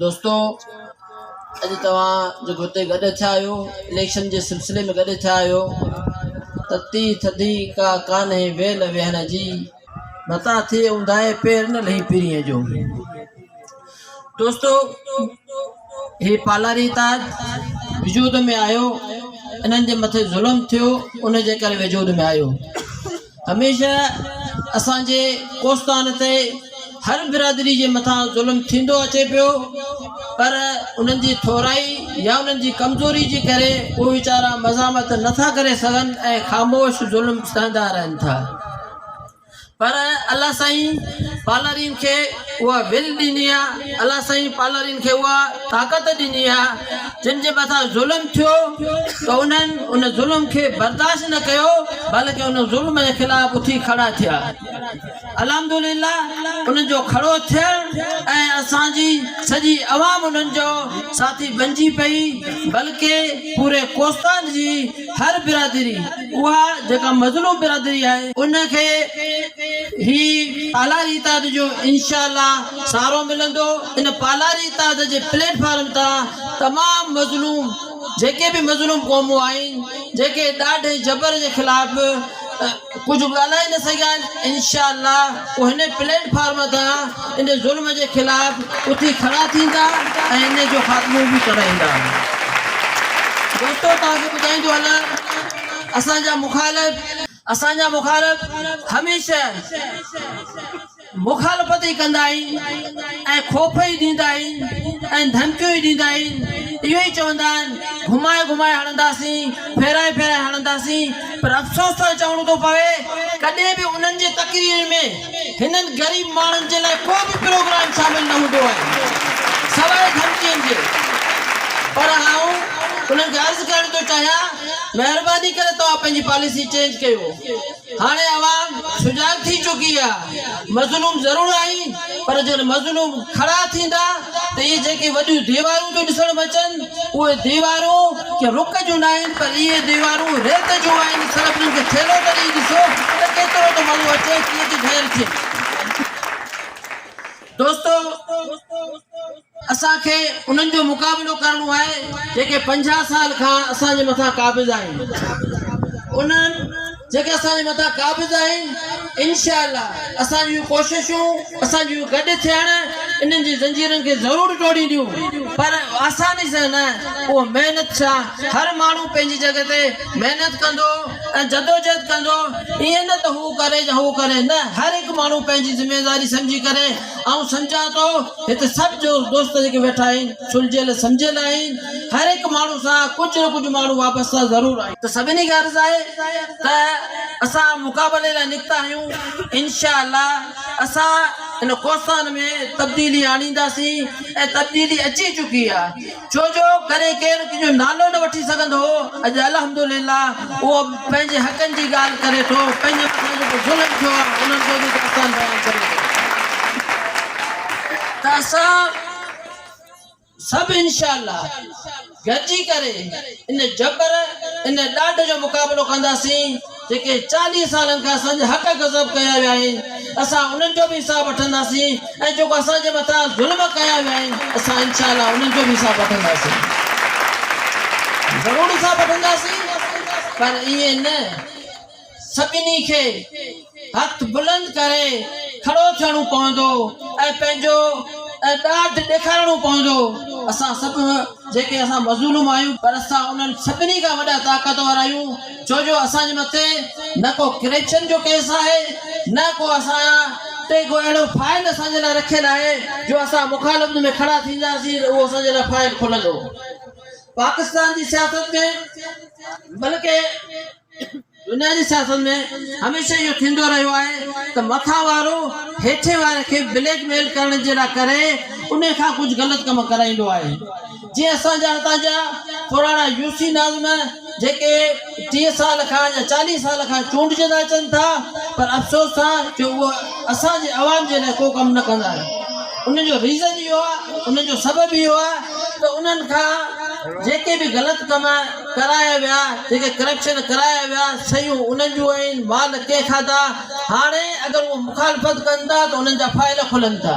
دوستو اڄ توهان جيڪو هتي گڏ ٿيا آهيو اليڪشن جي سلسلي ۾ گڏ ٿيا آهيو تتي ٿڌي ڪا ڪانهي ويل ويهڻ جي متا ٿئي اونداهي پير نه لهي پرينء جو دوستو هي پالاري تاج وجود ۾ آيو انهن جي مٿي ظلم ٿيو ان جي ڪري وجود ۾ آيو هميشه اسان جي ڪوستان تي هر برادري جي مٿان ظلم ٿيندو اچي پيو پر انهن جي ٿورائي يا انهن جي ڪمزوري جي ڪري هو ويچارا مزاحمت نٿا ڪري سگهن ۽ خاموش ظلم سهندا رهن ٿا پر الله سائين پالارين کي اها ول ڏني آهي الله سائين پالارين کي اها طاقت ڏني آهي جن جي مٿان ظلم ٿيو ته انهن ان ظلم کي برداشت نه ڪيو بلڪ ان ظلم جي خلاف اٿي کڙا ٿيا الحمدلله انهن جو کڙو ٿيڻ ۽ اسان جي سڄي عوام انهن جو ساٿي بنجي پئي بلڪ پوري ڪوستان جي هر برادري اها جيڪا مظلوم برادري آهي ان کي هي پالاري اتحاد جو انشاء الله سهارو ملندو ان پالاري اتحاد جي پليٽ فارم تان تمام مظلوم جيڪي به مظلوم قومون آهن جيڪي ڏاڍ ۽ جبر جي خلاف ڪجهه ڳالهائي نه سگهيا آهن انشاء الله هو هن پليٽ فارم تان ان ظلم جي خلاف اٿي کڙا ٿيندا ۽ ان جو خاتمو به ڪرائيندا دوستو توهان کي ٻڌائيندو هلان اسان جا مخالف اسان جا مخالف هميشه مخالفت ئي ڪندا آهن ۽ خوف ئي ڏيندا آهن ۽ ڌمڪيون ئي ڏيندا آهن اهو ئي چوندا آهن گهمائي گهمائي هڻنداسين ڦيرائي ڦيرائي هڻنداسين پر افسوس ٿو چوڻو ٿو پوي ڪڏهن به انهن جي تقريرن ۾ هنن غريب ماڻهن جي لاء ڪو به پروگرام شامل نه هوندو آهي سواء ڌمڪين جي پر آئون انهن کي عرض ڪرڻ ٿو چاهيان مهرباني ڪري توهان پنهنجي پاليسي چينج ڪيو. هاڻي عوام سجاڳ ٿي چڪي آهي، مظلوم ضرور آهن پر جڏهن مظلوم کڙا ٿيندا ته اهي جيڪي وڏيون ديوارون ٿيون ڏسڻ ۾ اچن اهي ديوارون ڪنهن رڪ جون ناهن پر اهي ديوارون ريت جون آهن صرف انهن کي ٿيلهو ڪري ڏسو ته ڪيترو ته مزو اچي ڪيئن ته ڍير ٿين دوستو! اسان کي انهن جو مقابلو ڪرڻو آهي جيڪي پنجاهه سال کان اسان جي مٿان قابض آهن انهن جيڪي اسان جي مٿان قابض آهن انشاء الله اسان جون ڪوششون اسان جون گڏ ٿيڻ انهن جي زنجيرن کي ضرور ٽوڙينديون پر آساني سان نه اهو محنت سان هر ماڻهو پنهنجي جڳهه تي محنت ڪندو ۽ جدوجهد ڪندو ائين نه ته هو ڪري يا هو ڪري نه هر هڪ ماڻهو پنهنجي ذميواري سمجهي ڪري آئون سمجهان ٿو هت سڀ جو دوست جيڪي ويٺا آهن سلجهيل سمجهيل آهن هر هڪ ماڻهو سان ڪجهه نه ڪجهه ماڻهو وابسته ضرور آهن ته سڀني کي عرض آهي ته اسان مقابلي لاء نڪتا آهيون انشاء الله اسان ان ڪوستان ۾ تبديلي آڻينداسين ۽ تبديلي اچي چڪي آهي ڇو جو ڪڏهن ڪير تنهنجو نالو نه وٺي سگهندو هو، اڄ الحمدلله اهو پنهنجي حقن جي ڳالهه ڪري ٿو، پنهنجي مٿان جيڪو ظلم ٿيو آهي انهن جو به داستان بيان ڪري ٿو ته اسان سڀ انشاء الله گڏجي ڪري ان جبر ان ڏاڍ جو مقابلو ڪنداسين. جيڪي چاليهه سالن کان اسان جي حق غصب ڪيا ويا آهن، اسان انهن جو به حساب وٺنداسين ۽ جيڪو اسان جي مٿان ظلم ڪيا ويا آهن، اسان انشاء الله انهن جو به حساب وٺنداسين. ضرور حساب وٺنداسين پر ائين نه، سڀني کي هٿ بلند ڪري کڙو ٿيڻو پوندو ۽ پنهنجو ڏاڍ ڏيکارڻو پوندو. اسان سڀ جيڪي اسان مظلوم آهيون پر اسان انهن سڀني کان وڏا طاقتور آهيون. ڇو جو اسان جي مٿي نه ڪو ڪرپشن جو ڪيس آهي نه ڪو اسان جا تي ڪو اهڙو فائل اسان جي لاء رکيل آهي جو اسان مخالفت ۾ کڙا ٿينداسين ته اهو اسان جي لاء فائل کلندو پاڪستان جي سياست ۾ بلڪه دنيا جي سياست ۾ هميشه اهو ٿيندو رهيو آهي ته مٿان وارو هيٺين واري کي بليڪ ميل ڪرڻ جي لاء ڪري ان کان ڪجهه غلط ڪم ڪرائيندو آهي جيئن اسان جا هتان جا پراڻا يوسفي ناظم جيڪي ٽيهه سال کان يا چاليهه سال کان چونڊجندا اچن ٿا پر افسوس سان جو اهو اسان جي عوام جي لاء ڪو ڪم نه ڪندا آهن ان جو ريزن اهو آهي ان جو سبب اهو آهي ته انهن کان جيڪي به غلط ڪم ڪرايا ويا جيڪي ڪرپشن ڪرايا ويا سيون انهن جون آهن مال ڪنهن کاڌا هاڻي اگر اهو مخالفت ڪن ٿا ته انهن جا فائل کلن ٿا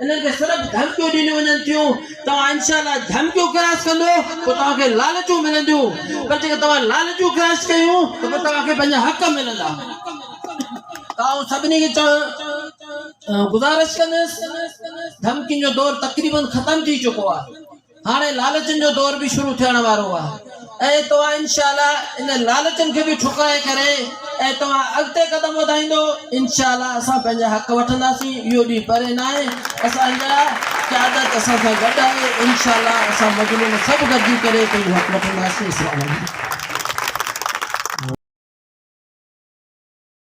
انهن کي صرف ڌمڪيون ڏنيون وڃن ٿيون توهان انشاء الله ڌمڪيون ڪراس ڪندو ته توهان کي لالچون ملنديون پر جيڪڏهن توهان لالچون ڪراس ڪيون ته پوء توهان کي پنهنجا حق ملندا آئون سڀني کي چوڻ گذارش ڪندس ڌمڪين جو دور تقريبن ختم ٿي چڪو آهي هاڻي لالچن جو دور به شروع ٿيڻ وارو آهي ۽ توهان انشاء الله ان لالچن کي به ٺڪرائي ڪري ۽ توهان اڳتي قدم وڌائيندو انشاء الله اسان پنهنجا حق وٺنداسين اهو ڏينهن پري نه آهي اسان جا قيادت اسان سان گڏ آهي انشاء الله اسان مظلوم سڀ گڏجي ڪري پنهنجو حق وٺنداسين اسلام عليڪم